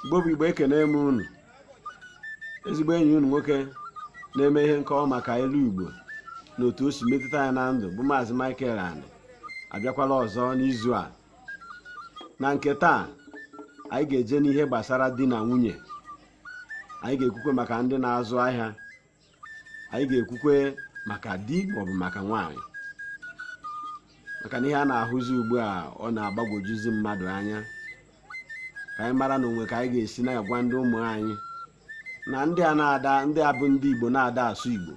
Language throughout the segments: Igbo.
igbo bụ igbo ekene m unu ezigbo enyi unu nwoke na-eme ihe nkọwa maka ilu igbo na otu o si metụta anyị na ndụ bụ maazị Michael Ani abịakwala ọzọ n'izu a na nke taa anyị ga-eje n'ihe gbasara di na nwunye anyị ga-ekwukwe maka ndị na-azụ ahịa anyị ga-ekwukwe maka di maọbụ maka nwaanyị maka na ihe a na-ahụzi ugbu a ọ na-agbagwojuzi mmadụ anya ka anyị mara na o nwe ka anyị ga-esi na-agwa ndị ụmụ anyị na ndị a na-ada ndị a bụ ndị igbo na-ada asụ igbo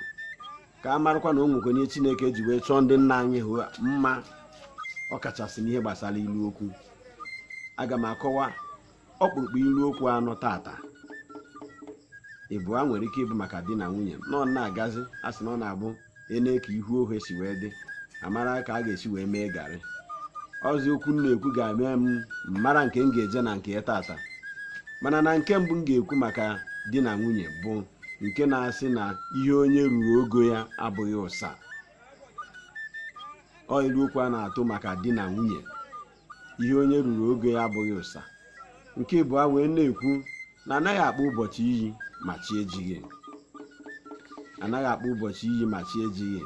ka a marakwa na o nwekwe ihe chineke ji wee chọọ ndị nna anyị ahụ mma ọ kachasị n'ihe gbasara ilu okwu aga m akọwa ọkpụrụkpụ ilu okwu anọ tata ịbụa nwere ike ịbụ maka di na nwunye na ọ na-agazi a sị na ọ na-abụ e nee ka ihu ohe si wee dị a mara ka a ga-esi wee mee garị ọ zị okwu m na-ekwu ga-eme m mara nke m ga-eje na nke ya tata mana na nke mbụ m ga-ekwu maka di na nwunye bụ nke na-asị na ihe onye ruru ogo ya abụghị ụsa ọ ilu okwu a na-atụ maka di na nwunye ihe onye ruru oge ya abụghị ụsa nke ịbụa wee na-ekwu na anaghị akpọ ụbọchị iyi ma chi ejighị anaghị akpọ ụbọchị iyi ma chi ejighị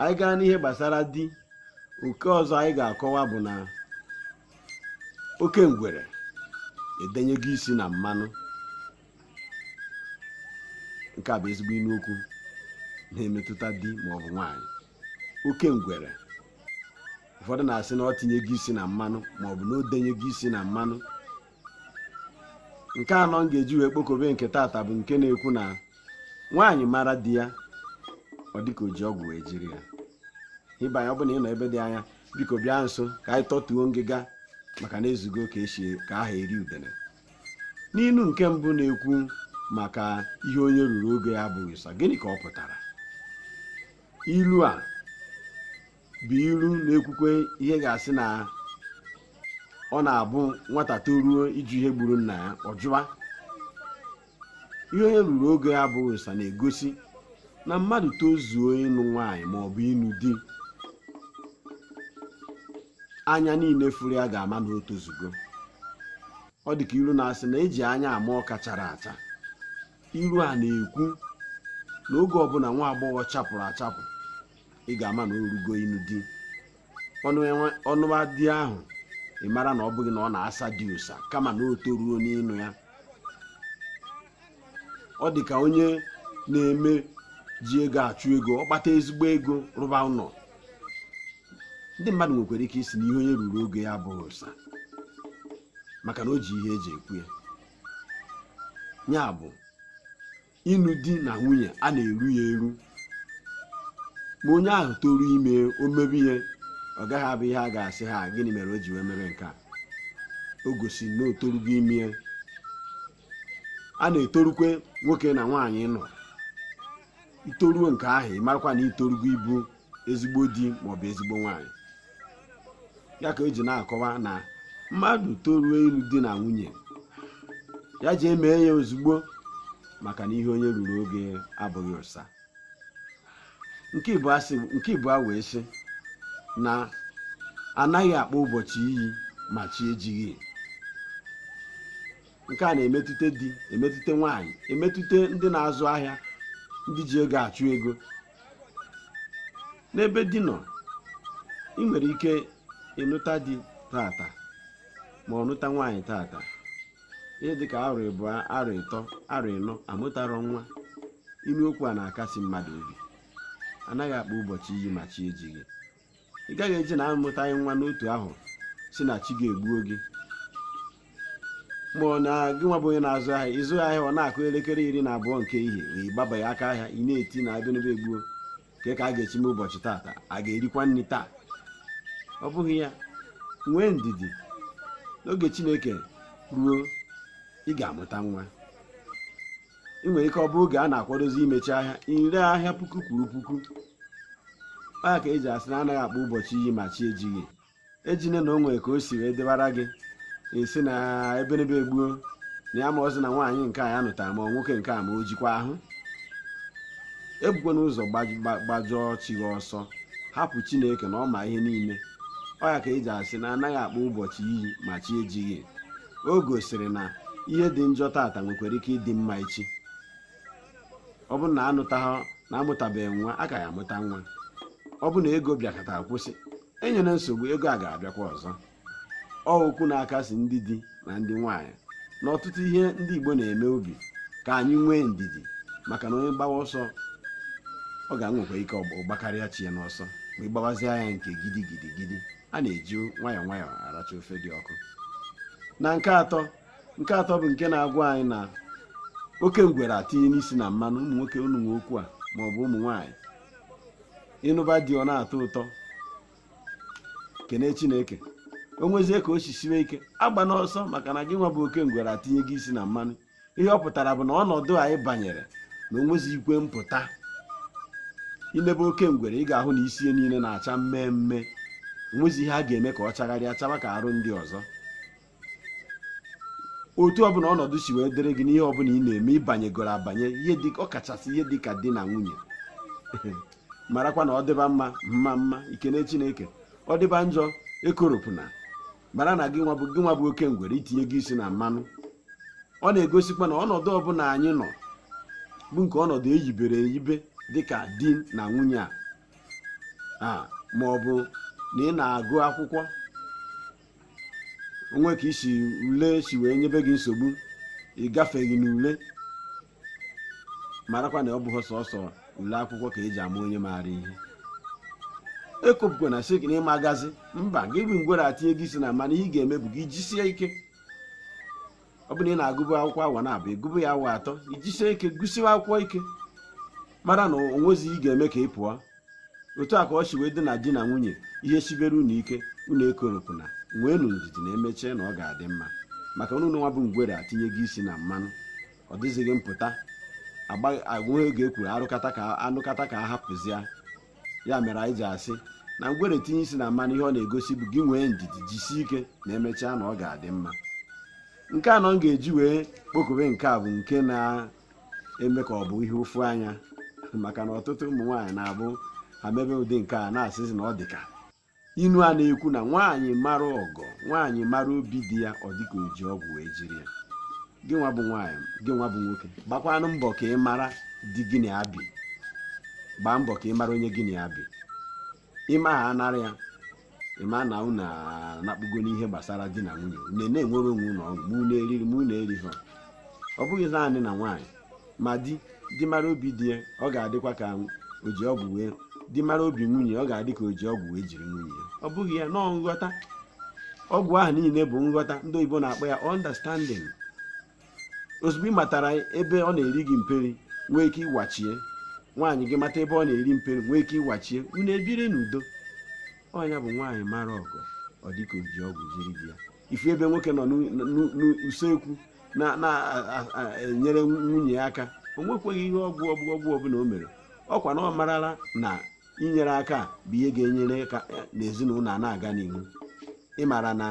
anyị gaa n'ihe gbasara di nke ọzọ anyị ga-akọwa bụ na oke ngwere edenyego isi na mmanụ nke a bụ ezigbo inu okwu na-emetụta di maọbụ nwaanyị oke ngwere ụfọdụ na-asị na o tinyego isi na mmanụ maọbụ na o denyego isi na mmanụ nke anọ m ga-eji wee kpokobe nke tata bụ nke na-ekwu na nwaanyị mara di ya ọ dịka o ji ọgwụ wee jiri ya ibe anyị ọ bụ na ị nọ ebe dị anya biko bịa nso ka anyị tọtuo ngịga maka na e zugo ka e si ka a ha eri udene n'ilu nke mbụ na-ekwu maka ihe onye ruru oge ya abụghị ụsa gịnị ka ọ pụtara ilu a bụ ilu na-ekwukwe ihe ga-asị na ọ na-abụ nwata toruo ịjụ ihe gburu nna ya ọ jụwa ihe onye ruru oge ya abụghị ụsa na-egosi na mmadụ tozuo ịnụ nwaanyị ma ọ bụ ịnụ di anya niile fụrụ ya ga-ama na o tozugo ọ dị ka ilu na-asị na e ji anya ama ọka chara acha ilu a na-ekwu na oge ọbụla nwa agbọghọ chapụrụ achapụ ị ga-ama na o rugo ịnụ di ọ nụwa di ahụ ị mara na ọ bụghị na ọ na-asa di ụsa kama na o toruru n'ịnụ ya ọ dị ka onye na-eme ji ego achụ ego ọ kpata ezigbo ego rụba ụlọ ndị mmadụ nwekwara ike ịsị na ihe onye ruru oge ya abụghị ụsa maka na o ji ihe eji ekwu ya ya bụ ịnụ di na nwunye a na-eru ya eru ma onye ahụ toru ime ya o mebe ya ọ gaghị abụ ihe a ga-asị ha gịnị mere o ji wee mebe nke a o gosi na o torugo ime ya a na-etorukwe nwoke na nwaanyị ịnụ i toruo nke ahụ ị marakwa na i torugo ịbụ ezigbo di maọbụ ezigbo nwaanyị ya ka eji na-akọwa na mmadụ toruo ịlụ di na nwunye ya ji emee ya ozugbo maka na ihe onye ruru oge abụghị ụsa nke ịbụa wee sị na anaghị akpọ ụbọchị iyi ma chi ejighị nke a na-emetụta di emetụta nwaanyị emetụta ndị na-azụ ahịa ndị ji ego achụ ego n'ebe di nọ ị nwere ike ịnụta di tata ma ọ nụta nwaanyị tata ihe dịka arọ ịbụa arọ ịtọ arọ ịnọ amụtarọ nwa ilu okwu a na-akasi mmadụ obi anaghị akpọ ụbọchị iyi ma chi ejighị ị gaghị eji na amụtaghị nwa n'otu ahụ sị na chi gị egbuo gị ma ọ na gị nwa bụ onye na-azụ ahịa ị zụwa ahịa ọ na-akụ elekere iri na abụọ nke ehihie ị gbabaghị aka ahịa ị na-eti na ebenebe egbuo kee ka a ga-esi mee ụbọchị taata a ga-erikwa nri taa ọ bụghị ya nwee ndidi na oge chineke ruo ị ga-amụta nwa ị nwere ike ọ bụrụ oge a na-akwadozi imechi ahịa i ree ahịa puku kwuru puku ọ ya ka eji asị na anaghị akpọ ụbọchị iyi ma chi ejighị ejine na o nwere ka o si wee dịwara gị sị na ebenebe egbuo na ya amarọzi na nwaanyị nke a ya nụtara ma nwoke nke a ma o jikwa ahụ ebukwana ụzọ gbajọọ chi gị ọsọ hapụ chineke na ọ ma ihe niile ọ ya ka eji asị na anaghị akpọ ụbọchị iyi ma chi ejighị o gosiri na ihe dị njọ tata nwekwara ike ịdị mma echi ọ bụ na anụtaghị na amụtabeghị nwa a ka ya-amụta nwa ọ bụ na ego bịakata kwụsị enyere nsogbu ego a ga-abịakwa ọzọ ọ okwu na-akasi ndị di na ndị nwaanyị na ọtụtụ ihe ndị Igbo na-eme obi ka anyị nwee ndidi maka na onye gbawa ọsọ ọ ga-enwekwa ike ọ gbakarịa chi ya n'ọsọ ma ị gbawazie ya nke gidigidi gidi a na-eji nwayọọ nwayọọ aracha ofe dị ọkụ na nke atọ nke atọ bụ nke na-agwa anyị na oke ngwere etinyena isi na mmanụ ụmụ nwoke unu nwe okwu a ma ọ bụ ụmụ nwaanyị ịnụba di ọ na-atọ ụtọ kene chineke o nwezie ka o si siwe ike agbana ọsọ maka na gị nwa bụ oke ngwere etinyego isi na mmanụ ihe ọ pụtara bụ na ọnọdụ anyị banyere na onwezi ikwe mpụta i nebe oke ngwere ị ga-ahụ na isi ya niile na-acha mmee mmee onwezi ihe a ga-eme ka ọ chagharịa chaba ka arụ ndị ọzọ otu ọbụla ọnọdụ si wee dịrị gị n'ihe ọbụla ị na-eme ị banyegoro abanye ọkachasị ihe dị ka di na nwunye marakwa na ọ dịba mma mma mma i kene chineke ọ dịba njọ ekoropụna mara na gị nwa bụ oke ngwere i tinyego isi na mmanụ ọ na-egosikwa na ọnọdụ ọbụla anyị nọ bụ nke ọnọdụ eyibere eyibe dịka di na nwunye a a ma ọ bụ na ị na-agụ akwụkwọ o nwe ka isi ule si wee nyebe gị nsogbu ị gafeghị n'ule marakwa na ọ bụghị sọsọ ule akwụkwọ ka eji ama onye maara ihe ekopụkwana sị na ị ma-agazi mba gị bụ ngwere etinyego isi na mmanụ ihe ị ga-eme bụ gị jisie ike ọ bụrụ na ị na-agụbụ akwụkwọ awa naabọ ị gụba ya awa atọ i jisie ike gụsiwa akwụkwọ ike mara na onwezi ị ga-eme ka ị pụọ otu a ka ọ si wee dị na di na nwunye ihe sibere unu ike unu ekoropụna nweenụ ndidi na emechaa na ọ ga-adị mma maka unu nwa bụ ngwere etinyego isi na mmanụ ọ dịzighị mpụta ọ bụghị oge ekwuru anụkata ka a hapụzia ya mere anyị ji asị na ngwere tinye isi na mmanụ ihe ọ na-egosi bụ gị nwee ndidi jisie ike na emechaa na ọ ga-adị mma nke anọ m ga-eji wee kpokọbe nke a bụ nke na-eme ka ọ bụ ihe ụfụ anya maka na ọtụtụ ụmụ nwaanyị na-abụ ha mebe ụdị nke a na-asịzi na ọ dị ka inu a na-ekwu na nwaanyị mara ọgọ nwaanyị mara obi di ya ọ dịka o ji ọgwụ wee jiri ya gị nwa bụ nwaanyị gị nwa bụ nwoke gbakwanụ mbọ ka ị mara di gị na ya bi gbaa mbọ ka ị mara onye gị na ya bi ị ma ha anara ya ị ma na unu anakpugo n'ihe gbasara di na nwunye na na-enwere onwe unu ọṅụ unu na-eri ihe ọ bụghị naanị na nwaanyị ma di di mara obi di ya ọ ga-adịkwa ka o ji ọgwụ wee di mara obi nwunye ọ ga-adị ka o ji ọgwụ wee jiri nwunye ya ọ bụ ha nọọ nghọta ọgwụ ahụ niile bụ nghọta ndị oyibo na-akpọ ya understanding ozugbo ị matara ebe ọ na-eri gị mperi nwee ike ịwachie nwaanyị gị mata ebe ọ na-eri mperi nwee ike ịwachie unu ebiri n'udo ọ nya bụ nwaanyị mara ọgọ ọ dịka o ji ọgwụ jiri di ya ị fụ ebe nwoke nọ n'usekwu na-enyere nwunye ya aka o nwekweghị ihe ọgwụ ọgwụ ọbụla o mere ọkwa na ọ marala na inyere aka bụ ihe ga-enyere aka n'ezinụlọ a na-aga n'ihu ị mara na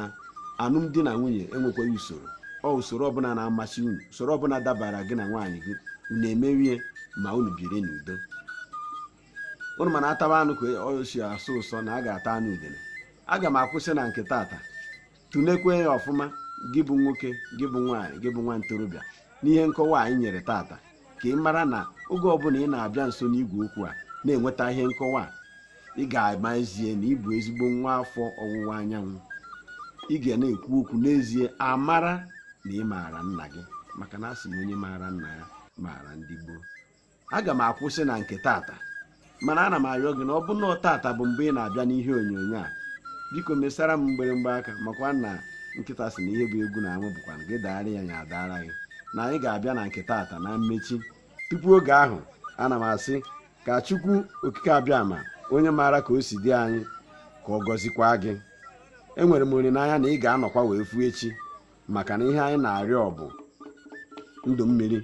alụmdi na nwunye enwekwaghị usoro ọ usoro ọbụla na-amasị unu usoro ọbụla dabara gị na nwaanyị gị unu emewe ya ma unu biri n'udo unu ma na a taba anụ ka o si asọ ụsọ na a ga-ata anụ udele aga m akwụsị na nke tata tụlekwe ya ọfụma gị bụ nwoke gị bụ nwaanyị gị bụ nwa ntorobịa n'ihe nkọwa anyị nyere tata ka ị mara na oge ọbụla ị na-abịa nso n'igwe okwu a na-enweta ihe nkọwa a ị ga-ama ezie na ị bụ ezigbo nwa afọ ọwụwa anyanwụ ị ga na-ekwu okwu n'ezie a mara na ị maara nna gị maka na a sị na onye maara nna ya maara ndị gboo aga m akwụsị na nke tata mana ana m arịọ gị na ọ bụ na tata bụ mgbe ị na-abịa n'ihe onyonyo a biko mesara m mgbịrịmgba aka makwa na nkịta sị na ihe bụ egwu na amụ bụkwa gị daara ya ya adaara gị na anyị ga-abịa na nke tata na mmechi tupu oge ahụ ana m asị ka chukwu okike abịama onye maara ka o si dị anyị ka ọ gọzikwa gị enwere m olileanya na ị ga-anọkwa wee fụ echi maka na ihe anyị na-arịọ bụ ndụ mmiri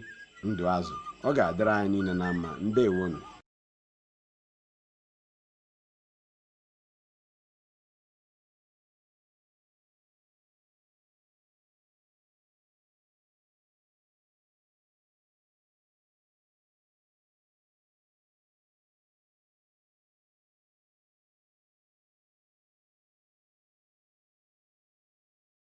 ndụ azụ ọ ga-adịrị anyị niile na mma ndewonu